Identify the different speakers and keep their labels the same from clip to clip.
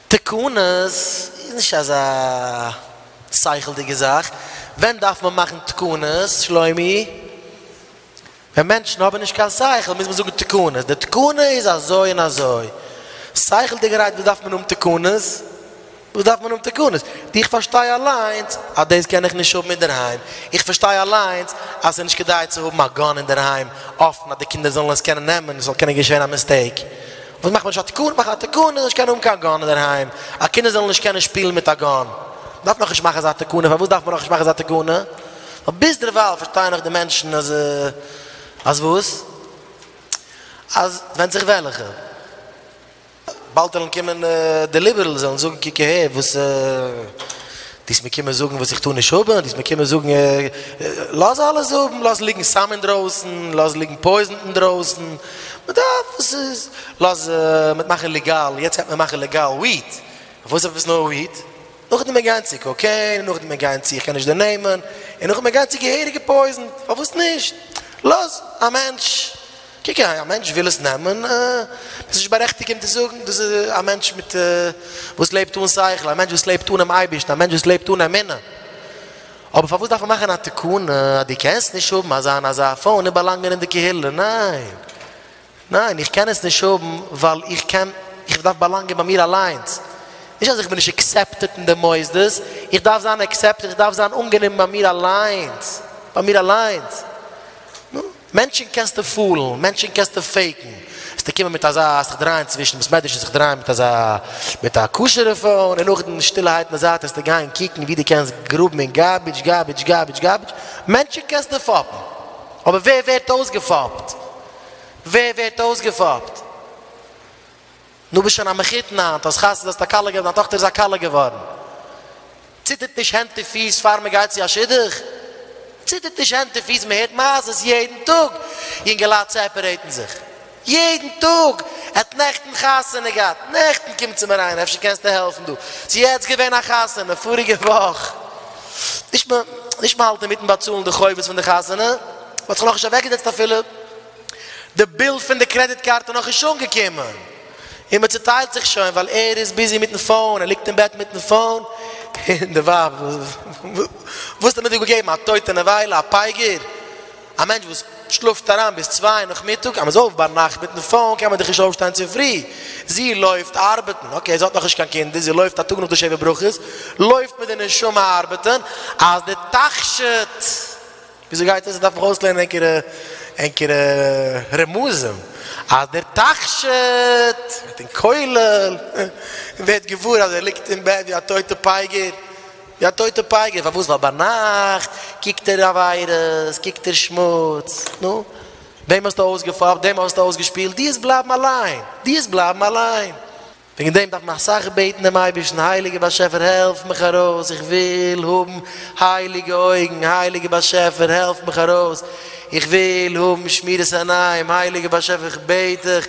Speaker 1: תקנות איז נישט אזא שכל'דיגע זאך, ווען דארף מען מאכן תקנות שלומי? ווען מענטשן האבן נישט קיין שכל מוז מען זאגן תקנות, די תקנה איז אזוי און אזוי, שכל'דיגערהייט וואס דארף מען האבן תקנות? וואס דארף מען האבן תקנות? איך פארשטיי אליינס אז דאס קען איך נישט האבן אינדערהיים, איך פארשטיי אליינס אז ס'איז נישט כדאי צו האבן א גאן אינדערהיים אפן אז די קינדער זאלן עס קענען נעמען, עס זאל קענען געשען א מיסטעיק. וואס מאכט מען נישט א תיקון? מאכן א תיקון איז נישט קיין האבן קיין גאן אינדערהיים, א קינדער זאלן נישט קענען שפילן מיט א גאן, דארף נאך נישט מאכן אזא תקנה, פארוואס דארף מען נאך נישט מאכן אזא תקנה? ווייל ביזדערווייל פארשטייען נאך די מענטשן אז אז וואס? אז ווענדט זיך וועלכע, באלד וועלן קומען די ליבערלס וועלן זאגן קוק אהער וואס דיסט מיר קומען זאגן וואס איך טאר נישט האבן, דיסט מיר קומען זאגן לאז אלעס האבן, לאז ליגן סם אינדרויסן, לאז ליגן פויזן אינדרויסן. מען דארף עס איז לאז מיט מאכן ליגאל יעצט גייט מען מאכן ליגאל וויעט וואס איז עפעס נאר וויעט נאכדעם מען גיין צו קאקעין נאכדעם מען גיין צו איך קען נישט די נעמען און נאכדעם מען גיין צו געהעריגע פויזן פארוואס נישט לאז א מענטש קוק א מענטש וויל עס נעמען מען איז נישט בארעכטיגט אים צו זאגן דאס איז א מענטש מיט וואס לעבט אן שכל א מענטש וואס לעבט אנעם אייבערשטן א מענטש וואס לעבט אן אמונה. אבער פארוואס דארף מען מאכן א תקנה אז דו קענסט נישט האבן אזא און אזא פאון און באלאנגען אין די קהילה? ניין! ניין! איך קען עס נישט האבן ווייל איך קען, איך דארף באלאנגען ביי מיר אליינס. נישט אז איך בין נישט עקסעפטעט אין די מוסדות, איך דארף זיין עקסעפטעט, איך דארף זיין אנגענומען ביי מיר אליינס, ביי מיר אליינס. נו. מענטשן קענסטו פולן, מענטשן קענסטו פעיקן, וועסטו קומען מיט אזא זיך דרייען צווישן וואס מעדרש'ן זיך דרייען מיט אזא מיט א כשר'ע פאון און נאכדעם שטילערהייט אין די זייט וועסטו גיין קוקן ווי דו קענסט גראבן אין גארבידזש גארבידזש גארבידזש גארבידזש, מענטשן קענסטו פאפן, אבער ווער ווערט אויסגעפאפט? ווער ווערט אויסגעפאפט? נו ביסט שוין א מחותן היינט, האסט חתונה האסט א כלה געהאט, דיין טאכטער איז א כלה געווארן, ציטערט נישט הענט און פיס פאר מען גייט צו א שידוך? ציטערט נישט הענט און פיס? מען הערט מעשות יעדן טאג, יונגעלייט סעפערעיטן זיך יעדן טאג, ער האט נעכטן חתונה געהאט, נעכטן קומט צו מיר איינער, אפשר קענסטו העלפן דא, ס'איז יעצט געווען א חתונה פאריגע וואך, נישט מען האלט אינמיטן באצאלן די חובות פון די חתונה, מען האט זיך נאכנישט אוועקגעזעצט אפילו. די ביל פון די קרעדיט קארט איז נאכנישט אנגעקומען און מען צוטיילט זיך שוין ווייל ער איז ביזי מיטן פאון, ער ליגט אין בעט מיטן פאון און די ווייב וואס האט אים דא געגעבן א טויטע נבילה, א פייגער, א מענטש וואס שלאפט אריין ביז צוויי נאכמיטאג, אז מען איז אויף ביינאכט מיטן פאון קען מען דאך נישט אויפשטיין צופרי, זי לויפט ארבעטן, אקעי זי האט נאכנישט קיין קינדער, זי לויפט א טאג נאך די שבע ברכות לויפט מיט די נשמה ארבעטן אז די תכשיט. וויאזוי גייט עס? דארף איך אויסלערנען ענקערע ענקערע רמזים אז דער תכשיט וועט אין כולל און ווערט געוואר אז ער ליגט אין בעט ווי א טויטע פייגער, ווי א טויטע פייגער, פארוואס? ווייל ביינאכט קוקט ער עבירות, קוקט ער שמוץ, נו, וועם האסטו אויסגעפאפט? וועם האסטו אויסגעשפילט? דיעות בלייבן אליין, דיעות בלייבן אליין. וועגן דעם דארף מען אסאך בעטן דעם אייבערשטן, הייליגער באשעפער העלף מיך ארויס, איך וויל האבן הייליגע אויגן, הייליגער באשעפער העלף מיך ארויס, איך וויל האבן שמירת עיניים, הייליגער באשעפער איך בעט דיך,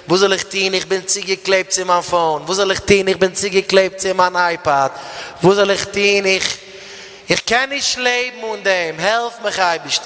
Speaker 1: וואס זאל איך טון איך בין צוגעקלעבט צו מיין פאון, וואס זאל איך טון איך בין צוגעקלעבט צו מיין אייפאד, וואס זאל איך טון איך איך קען נישט לעבן אן דעם, העלף מיך אייבערשטער.